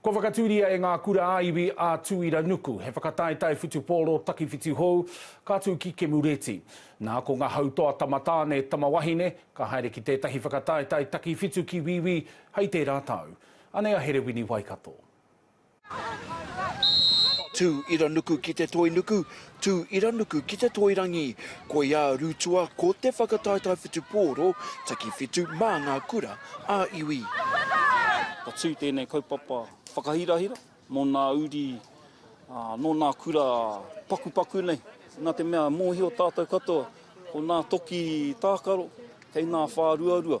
Kua whakatūria e ngā kura-ā-iwi a Tūiranuku he whakataetae whutupōro takiwhitu hou ka tū ki Kemureti. Nā, ko ngā hautoa tamatāne, tamawahine, ka haere ki tētahi whakataetae takiwhitu ki Wīwī hei tērā tau. Anei a Herewini Waikato. Tū Iranuku ki Te Toinuku, Tū Iranuku ki Te Toirangi, koiā Rutua ko te whakataetae whitu pōro, taki whitu mā ngā kura ā iwi. Ka tū tēnei kaupapa whakahirahira mō nā uri nō nā kura pakupaku nei, nā te mea mōhio tātou katoa ko nā toki tākaro kei nā whāruarua.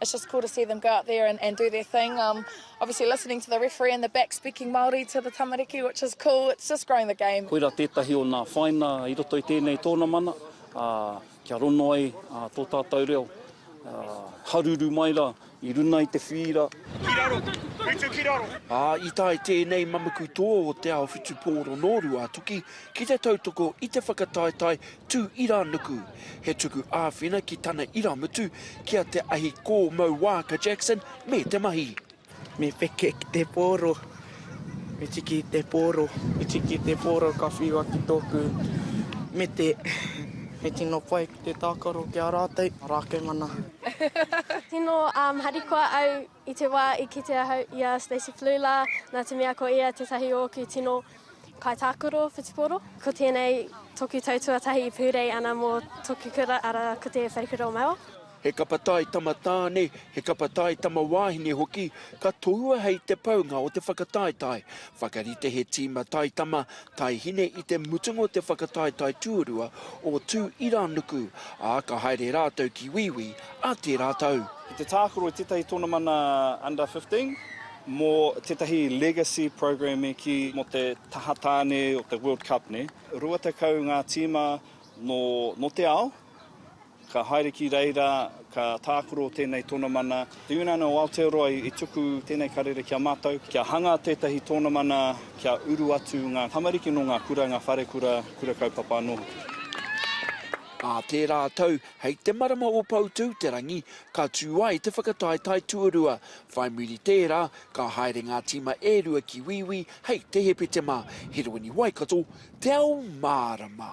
It's just cool to see them go out there and, and do their thing. Um, obviously listening to the referee in the back speaking Māori to the tamariki, which is cool. It's just growing the game. Koira tētahi o nā whaina i roto i tēnei tōnamana, ā, kia rono ai ā, tō tātou reo, ā, haruru mai ra i runa i te whīra. Ki raro! Kei tū ki raro! Ā, i tae tēnei mamuku tō o Te Ao Whutupōro nō Ruātoki ki te tautoko i te whakataetae Tū Irānuku, he tuku āwhina ki tana irāmutu, ki a Te Ahi Kōmau Waaka Jackson me te mahi. Me peke ki te pōro, me tiki i te pōro, me tiki i te pōro ka whiua ki tōku mete. Me tino pai ki te tākaro ki a rātou, maraake mana. Tino harikoa au I te wā i kite ahau i a Stacey Flew lā, nā te mea ko ia tētahi o ōku tino kaitākaro whutupōro. Ko tēnei toku tau tuatahi i pūrei ana mō toku kura, arā, ko te Wharekura o Mauao. He kapa tai tama tāne, he kapa tai tama wāhine hoki, ka tohua hei te paunga o te whakataetae. Whakarite he tīma tai tama, tai hine i te mutunga o te whakataetae tuarua o Tū-ira-nuku, ā, ka haere rātou ki Wīwī, a tērā tau. Ki te tākaro i tētahi tonomana Under 15 mō tētahi legacy program e kī mō te taha tāne o te World Cup nei. Rua tekau ngā tīma nō te ao ka haere ki reira, ka tākaro tēnei tonomana. Te Uniana o Aotearoa i tuku tēnei karere ki a mātou kia hanga tētahi tonomana kia uru atu ngā tamariki nō ngā kura, ngā wharekura, kura kaupapa anō hoki. Ā tērā tau, Hei te marama o Poutouterangi ka tū ai te whakataetae tuarua. Whai muri tērā, ka haere ngā tīma e rua ki Wīwī hei te Hepetema, Heroini Waikato, Te Ao Mārama.